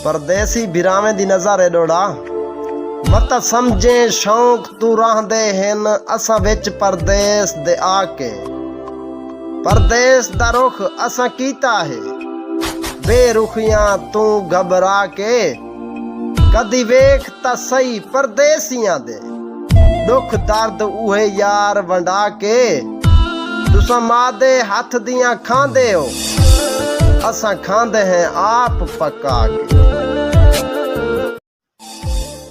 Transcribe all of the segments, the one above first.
پردیسی بھراویں دی نظر ہے ڈوڑا مت سمجھیں شوق تو راہ دے ہن اساں وچ پردیس دے آ کے پردیس دا رخ اساں کیتا ہے بے رخیاں تو گھبرا کے کدی ویکھ تاں سہی پردیسیاں دے ݙکھ درد اوہے یار ونڈا کے تساں ماء دے ہتھ دیاں کھاندے او اساں کھاندے ہیں آپ پکا کے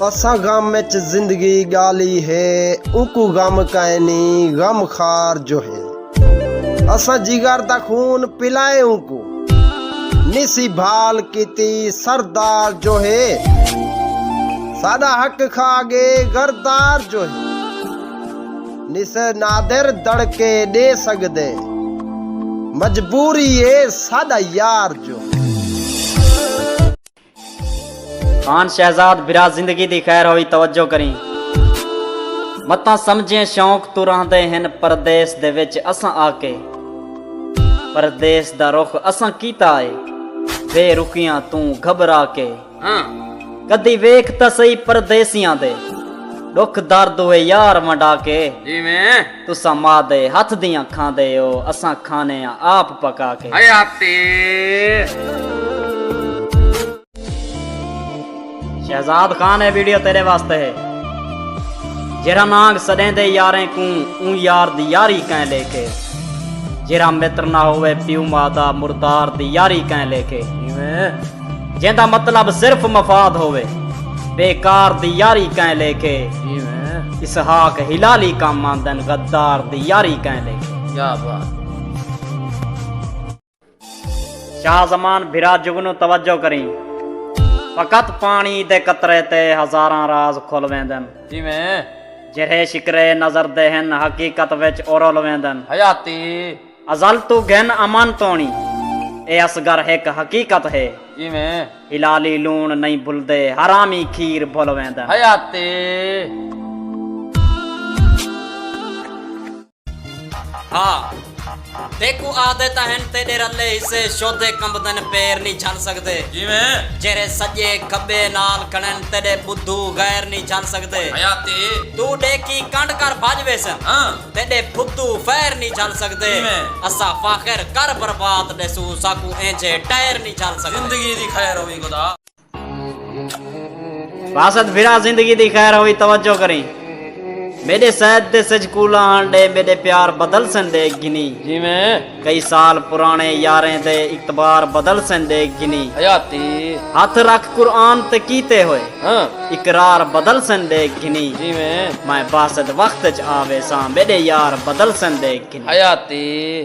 اساں غم وچ زندگی ڳالی ہے اونکوں غم کائنی غم خار جو ہے۔ اساں جگر دا خون پلائے اونکو نسی بھال کیتی سردار جو ہے ساڈا حق کھا گے غردار جو ہے نسے نادر دڑکے دے سگدے مجبوری اے ساڈا یار جو ہے خان شہزاد برا زندگی دی خیر ہوئی توجہ کریں متاں سمجھیں شوق تو رہندے ہن پردیس دے وچ اساں آ کے پردیس دا رخ اساں کیتا اے بے رخیاں توں گھبرا کے کدی ویکھ تاں سہی پردیسیاں دے ڈکھ درد ہوئے یار ونڈا کے تساں ماء دے ہتھ دیاں کھاندے او اساں کھانے آں آپ پکا کے۔ حیاتی۔ شہزاد خان اے ویڈیو تیرے واسطے ہے جیرا نانگ سڈیں دے یاریں کوں اون یار دی یاری کہیں لے کے جیرا متر نہ ہوئے پیو ماں دا مردار دی یاری کہیں لے کے جیندا مطلب صرف مفاد ہووے بے کار دی یاری کئیں لیکھے اسحاق ہلالی کم آندن غدار دی یاری کئیں لیکھے کیا بات شاہ زمان بھرا جگنو توجہ کریں فقط پانی دے قطرے تے ہزاراں راز کھل ویندن جی میں جرہے شکرے نظر دے ہن حقیقت وچ اورل ویندن حیاتی ازل توں گھن امن توݨی۔ اے اصغر ہک حقیقت ہے۔ کیویں؟ حلالی لوݨ نئیں بھلدے حرامی کھیر بھل ویندن۔ حیاتی۔ ہا تیکوں آہدے تاں ہن تیݙے رلے حصے شودھے کمبدن پیر نی جھل سڳدے۔ کیویں؟ جیرھے سڄے کھٻے نال کھڑن تیݙے ٻدھو غیر نی جھل سڳدے۔ حیاتی۔ توں ݙیکھی کنڈ کر بھڄ ویسن۔ ہاں۔ تیݙے بھتو فیر نی جھل سڳدے کیویں؟ اساں فاخر کر برباد ݙیسوں ساکوں اینجھے ٹائر نی جھل سڳدے۔ زندگی دی خیر ہووی خدا۔ باسط بھرا زندگی دی خیر ہووی توجہ کریں میݙے سید تے سجھ کولاں ہن ݙے میݙے پیار بدل سن ݙے گھنی۔ جیویں۔ کئی سال پراݨے یاریں دے اعتبار بدل سن ݙیکھ گھنی۔ حیاتی۔ ہتھ رکھ قرآن تے کیتے ہوئے۔ ہاں۔ اقرار بدل سن ݙیکھ گھنی۔ جیویں۔ میں باسط وقت اچ آ ویساں میݙے یار بدل سن ݙیکھ گھنی۔ حیاتی۔